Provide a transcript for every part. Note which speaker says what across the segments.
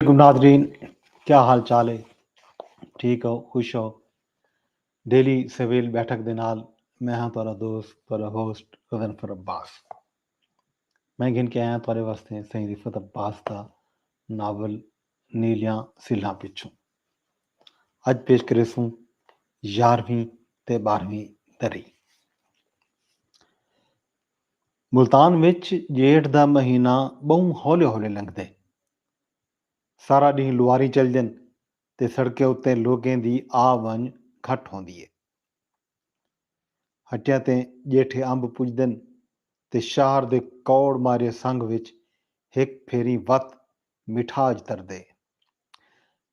Speaker 1: علیکم ناظرین کیا حال چال ہے ٹھیک ہو خوش ہو ڈیلی سویل بیٹھک دے نال میں ہاں تہاڈا دوست تہاڈا ہوسٹ غضنفر عباس میں گھن کے آیا تہاڈے واسطے سائیں رفت عباس دا ناول نیلیاں سلھاں پچھوں اج پیش کرے سوں یارویں تے بارہویں دری ملتان وچ جیٹھ دا مہینہ بہوں ہولے ہولے لنگدے سارا ڈینہہ لواری چلدن تے سڑکیں اتے لوکیں دی آ ونج گھٹ ہوندی اے۔ ہٹیاں تے ڄیٹھے امب پڄدن تے شہر دے کوڑ مارے سنگھ وچ ہک پھیریں وت مٹھاج تردے۔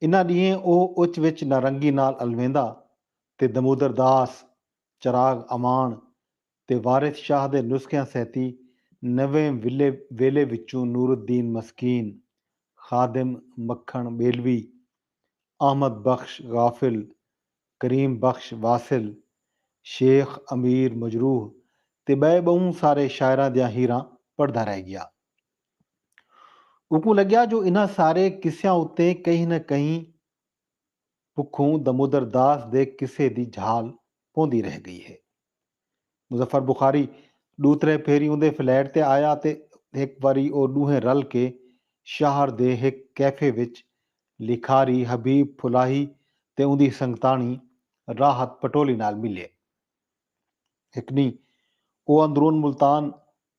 Speaker 1: انہاں ڈینہیں او اچ وچ نارنگی نال الویندا تے دمودر داس، چراغ امان تے وارث شاہ دے نسخیاں سیتی نویں ولے ویلے وچوں نور الدین مسکین، خادم مکھݨ ٻیلوی، احمد بخش غافل، کریم بخش واصل، شیخ امیر مجروح تے ٻئے ٻہوں سارے شاعراں دیاں ہیراں پڑھدا رہ ڳیا۔ اوکوں لڳیا جو انہاں سارے قصیاں اتے کہیں نہ کہیں پکھوں دمودر داس دے قصے دی جھال پوندی رہ ڳئی ہے۔ مظفر بخاری ݙو ترے پھیری اوندے فلیٹ تے آیا تے ہک واری او ݙوہیں رل کے شہر دے ہک کیفے وچ لکھاری حبیب پھلاہی تے اوندی سنگتاݨی راحت پٹولی نال ملئے۔ ہک ݙینہہ او اندرون ملتان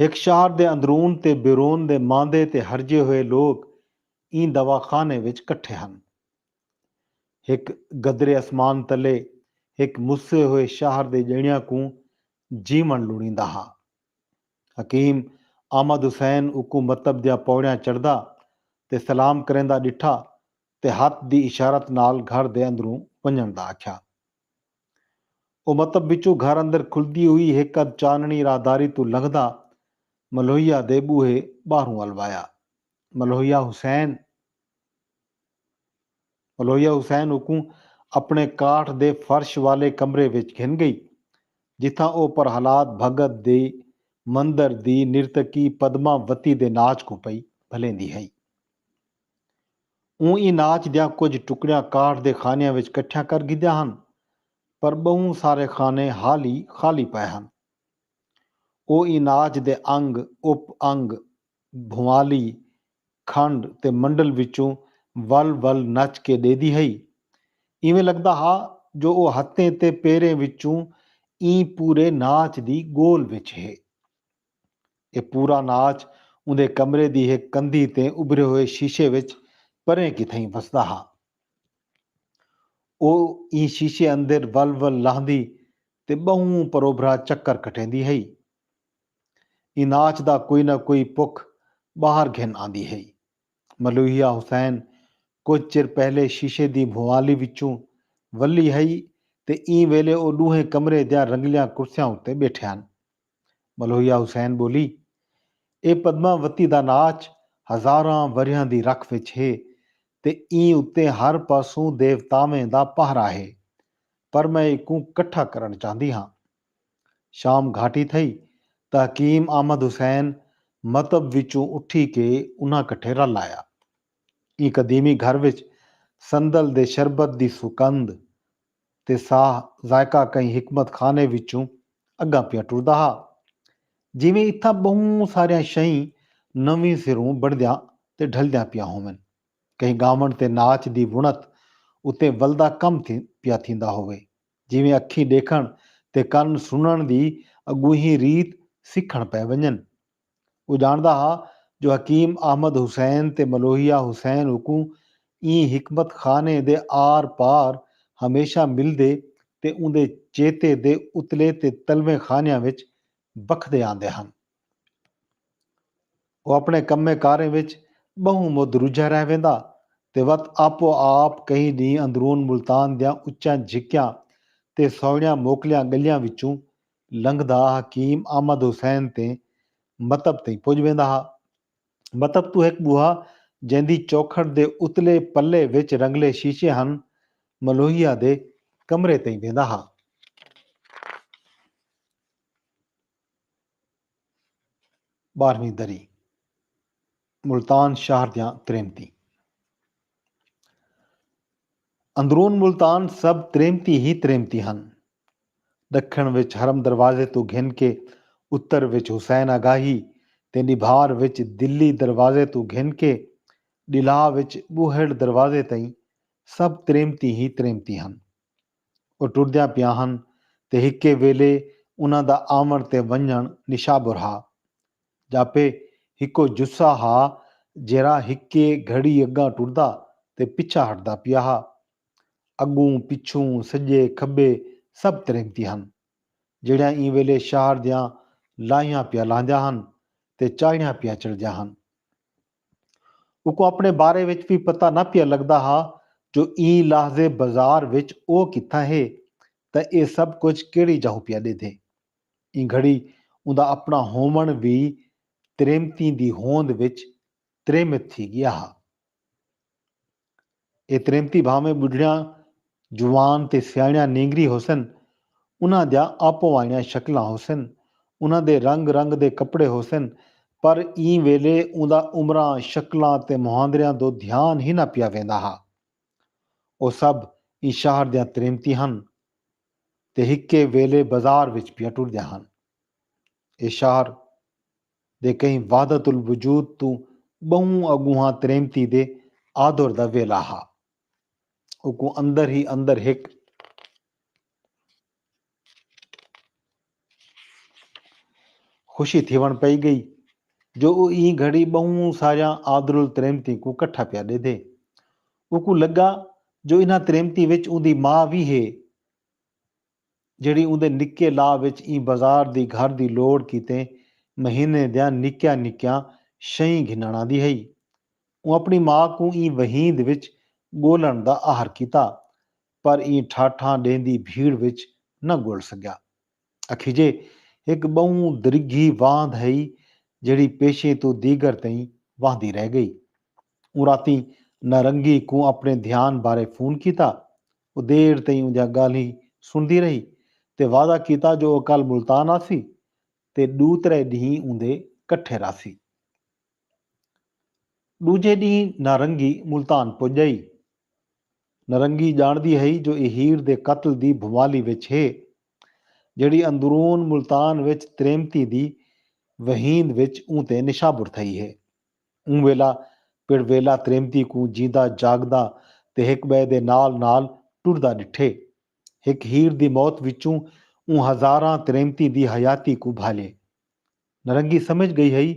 Speaker 1: ہک شہر دے اندرون تے بیرون دے ماندے تے ہرجے ہوئے لوک ایں دواخانے وچ کٹھے ہن۔ ہک گدرے اسمان تلے ہک مسے ہوئے شہر دے ڄݨیاں کوں جیوݨ لڑیندا ہا۔ حکیم احمد حسین اوکوں مطب دیاں پوڑیاں چڑھدا تے سلام کریندا ݙٹھا تے ہتھ دی اشارت نال گھر دے اندروں ونڄݨ دا آکھیا۔ او متب وچوں گھر اندر کھلدی ہوئی ہک ادھ چانڑی راہداری توں لنگھدا ملوہیا دے ٻوہے ٻاہروں ول وایا۔ ملوہیا حسین۔ ملوہیا حسین اوکوں اپݨے کاٹھ دے فرش والے کمرے وچ گھن ڳئی جتھاں او پرہلاد بھگت دے مندر دی نرتکی پدما وتی دے ناچ کوں پئی بھلیندی ہئی۔ اوں ایں ناچ دیاں کجھ ٹکڑیاں کاٹھ دے خانیاں وچ کٹھیاں کر گھدیاں ہن پر ٻہوں سارے خانے حالی خالی پئے ہن۔ او ایں ناچ دے انگ، اپ انگ، بھنوالی، کھنڈ تے منڈل وچوں ول ول نچ کے ݙیدی ہئی۔ ایویں لڳدا ہا جو او ہتھیں تے پیریں وچوں ایں پورے ناچ دی ڳول وچ ہے۔ اے پورا ناچ اوندے کمرے دی ہک کندھی تے ابھرے ہوئے شیشے وچ پریں کتھائیں وسدا ہا۔ او ایں شیشے اندر ول ول لہندی تے ٻہوں پروبھرا چکر کٹیندی ہئی۔ ایں ناچ دا کوئی نہ کوئی پک ٻاہر گھن آندی ہئی۔ ملوحیہ حسین کجھ چر پہلے شیشے دی بھوالی وچوں ولھی ہئی تے ایں ویلے او ݙوہیں کمرے دیاں رنگلیاں کرسیاں اتے ٻیٹھے ہن۔ ملویا حسین ٻولی اے پدما وتی دا ناچ ہزاراں وریہاں دی رکھ وچ ہے تے ایں اتے ہر پاسوں دیوتاویں دا پہرا ہے پر میں ایکوں کٹھا کرݨ چاہندی ہاں۔ شام گھاٹی تھئی تاں حکیم احمد حسین متب وچوں اٹھی کے انہاں کٹھے رل آیا۔ ایں قدیمی گھر وچ صندل دے شربت دی سکند تے ساہ ذائقہ کہیں حکمت خانے وچوں اگاں پیاں ٹردا ہا۔ جیویں اتھاں بہوں ساریاں شئیں نویں سروں بݨدیاں تے ڈھلدیاں پیاں ہوون۔ کہیں گاوݨ تے ناچ دی وݨت اتے ولدا کم پیا تھیندا ہووے۔ جیویں اکھیں ݙیکھݨ تے کن سݨݨ دی اڳونہی ریت سکھݨ پئے ونڄن۔ او ڄاݨدا ہا جو حکیم احمد حسین تے ملوحیہ حسین اکوں ایں حکمت خانے دے آر پار ہمیشہ ملدے تے اوندے چیتے دے اتلے تے تلویں خانیاں وچ بکھدے آندے ہن۔ او اپݨے کمیں کاریں وچ ٻہوں مدھ رجھا رہ ویندا تے وت آپو آپ کئی ݙینھ اندرون ملتان دیاں اچیاں جھکیاں تے سوہݨیاں موکلیاں ڳلیاں وچوں لنگھدا حکیم احمد حسین تے مطب تئیں پڄ ویندا ہا۔ مطب توں ہک ٻوہا جیندی چوکھٹ دے اتلے پلے وچ رنگلے شیشے ہن، ملوہیا دے کمرے تئیں ویندا ہا۔ ٻارہویں دری۔ ملتان شہر دیاں تریمتیں۔ اندرون ملتان سب تریمتیں ہی تریمتیں ہن۔ ڈکھن وچ حرم دروازے توں گھن کے اتر وچ حسین آگاہی تے نبھار وچ دلی دروازے توں گھن کے ڈلھا وچ بوہڑ دروازے تئیں سب تریمتیں ہی تریمتیں ہن۔ او ٹردیاں پیاں ہن تے ہکے ویلھے انہاں دا آوݨ تے ونڄݨ نشابر ہا۔ جاپے ہکو جثہ ہا جیرھا ہکے گھڑی اگاں ٹردا تے پچھا ہٹدا پیا ہا۔ اگوں پچھوں، سجے کھبے سب تریمتی ہن۔ جیڑھیاں ایں ویلے شہر دیاں لاہیاں پیا لہندیاں ہن تے چاہڑیاں پیا چڑھدیاں ہن۔ اوکوں اپنے بارے وچ وی پتہ نہ پیا لگدا ہا جو ایں لحظے بازار وچ او کتھاں ہے تاں اے سب کجھ کیڑھی جاہو پیا ڈیدھے۔ ایں گھڑی اوندا اپݨا ہووݨ وی تریمتیں دی ہوند وچ تریمت تھی ڳیا ہا۔ اے تریمتی بھانویں ٻڈھڑیاں، جوان تے سیاݨیاں نینگری ہوسن، انہاں دیاں آپو آئیڑیاں شکلاں ہوسن، انہاں دے رنگ رنگ دے کپڑے ہوسن، پر ایں ویلے اوندا عمراں، شکلاں تے مہاندریاں دو دھیان ہی نہ پیا ویندا ہا۔ او سب ایں شہر دیاں تریمتیں ہن۔ تے ہکے ویلے بازار وچ پیا ٹردیاں ہن۔ ایہ شہر دے کہیں وحدت الوجود توں ٻہوں اڳونہاں تریمتی دے آدور دا ویلہ ہا۔ اوکوں اندر ہی اندر ہک۔ خوشی تھیوݨ پئی ڳئی جو او ایں گھڑی ٻہوں ساریاں آدرالتریمتیں کوں کٹھا پیا ݙیدھے۔ اوکوں لڳا جو انھاں تریمتیں وچ اوندی ماء وی ہے جیڑھی اوندے نکے لا وچ ایں بازار دی گھر دی لوڑ کیتے مہینے دیاں نکیاں نکیاں شئیں گھنݨ آندی ہئی۔ اوں اپݨی ماء کوں ایں وہیند وچ ڳولݨ دا آہر کیتا پر ایں ٹھاٹھاں ݙیندی بھیڑ وچ نہ ڳول سڳیا۔ اکھیجے ہک ٻہوں درگھی واند ہئی جیڑھی پیشیں توں دیگر تئیں واہندی رہ ڳئی۔ اوں راتیں نارنگی کوں اپݨے دھیان بارے فون کیتا۔ او دیر تئیں اوندیاں ڳالھیں سݨدی رہی تے وعدہ کیتا جو او کل ملتان آسی تے ݙو ترے ݙینھ اوندے کٹھے رہسی۔ ݙوجھے ݙینہہ نارنگی ملتان پڄ ڳئی۔ نارنگی ڄاݨدی ہئی جو اے ہیر دے قتل دی بھنوالی وچ ہے، جیڑھی اندرون ملتان وچ تریمتیں دی وہیند وچ اوں تے نشابر تھئی ہے۔ اوں ویلا پڑویلا تریمتی کوں جیندا جاڳدا تے ہک ٻئے دے نال نال ٹردا ݙٹھے۔ ہک ہیر دی موت وچوں اوں ہزاراں تریمتیں دی حیاتی کوں بھالے۔ نرنگی سمجھ ڳئی ہئی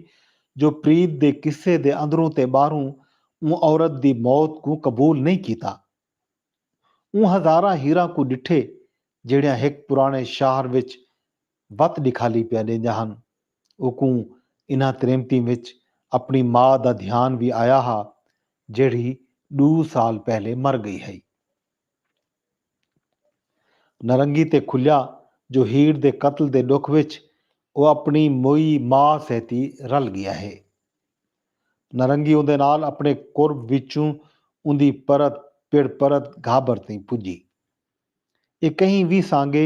Speaker 1: جو پریت دے قصے دے اندروں تے ٻاہروں اوں عورت دی موت کوں قبول نئیں کیتا۔ اوں ہزاراں ہیراں کوں ݙٹھے جیڑھیاں ہک پراݨے شاہر وچ وت ݙکھالی پیا ݙیندیاں ہن۔ اوکوں انہاں تریمتیں وچ اپݨی ماء دا دھیان وی آیا ہا جیڑھی ݙو سال پہلے مر ڳئی ہئی۔ نرنگی تے کھلیا جو ہیر دے قتل دے ݙکھ وچ او اپݨی موئی ماء سیتی رل ڳیا ہے۔ نرنگی اوندے نال اپݨے قرب وچوں اوندی پرت پڑ پرت گھابر تئیں پڄی۔ اے کہیں وی سانگے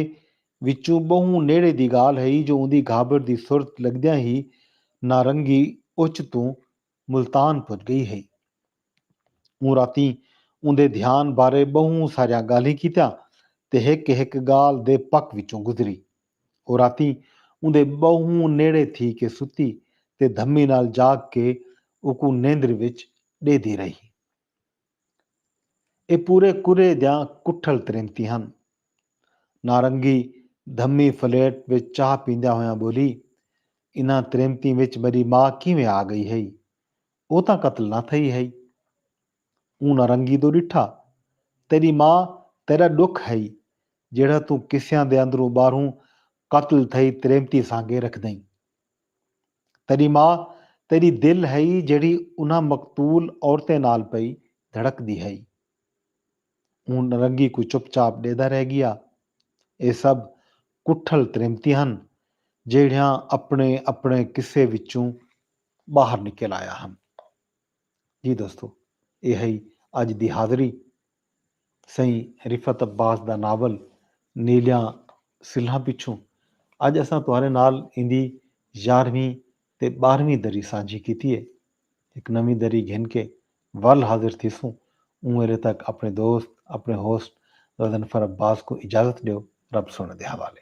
Speaker 1: وچوں ٻہوں نیڑے دی ڳالھ ہئی جو اوندی گھابر دی سرت لڳدیاں ہی نارنگی اچ توں ملتان پج گئی ہئی۔ اوں راتیں اوندے دھیان بارے بہوں ساریاں گالھیں کیتیاں تے ہک ہک گالھ دے پک وچوں گزری۔ او راتیں اوندے بہوں نیڑے تھی کے ستی تے دھمی نال جاگ کے اوکوں نیندر وچ ڈیہدی رہی۔ ایہ پورے کرے دیاں کٹھل تریمتی ہن۔ نارنگی دھمی فلیٹ وچ چاہ پیندیاں ہویاں ٻولی، انہاں تریمتیں وچ میݙی ماء کیویں آ ڳئی ہئی؟ او تاں قتل نہ تھئی ہئی۔ اوں نارنگی دو ݙٹھا، تیݙی ماء تیݙا ݙکھ ہئی، جیڑھا توں قصیاں دے اندروں ٻاہروں قتل تھئی تریمتی سانگے رکھدئیں۔ تیݙی ماء تیݙی دل ہئی جیڑھی انہاں مقتول عورتیں نال پئی دھڑکدی ہئی۔ اوں نرنگی کوں چپ چاپ ݙیہدا رہ ڳیا۔ ایہ سب کٹھل تریمتیں ہن جیڑھیاں اپݨے اپݨے قصے وچوں ٻاہر نکل آیا ہن۔ جی دوستو اے ہئی اج دی حاضری سئیں رفعت عباس دا ناول نیلیاں سلھاں پچھوں اج اساں تہاݙے نال ایندی یارہویں تے ٻارہویں دری سانجھی کیتی ہے ہک نویں دری گھن کے ول حاضر تھیسوں اوں ویلے تک اپݨے دوست اپݨے ہوسٹ غضنفر عباس کوں اجازت ݙیو رب سونے دے حوالے۔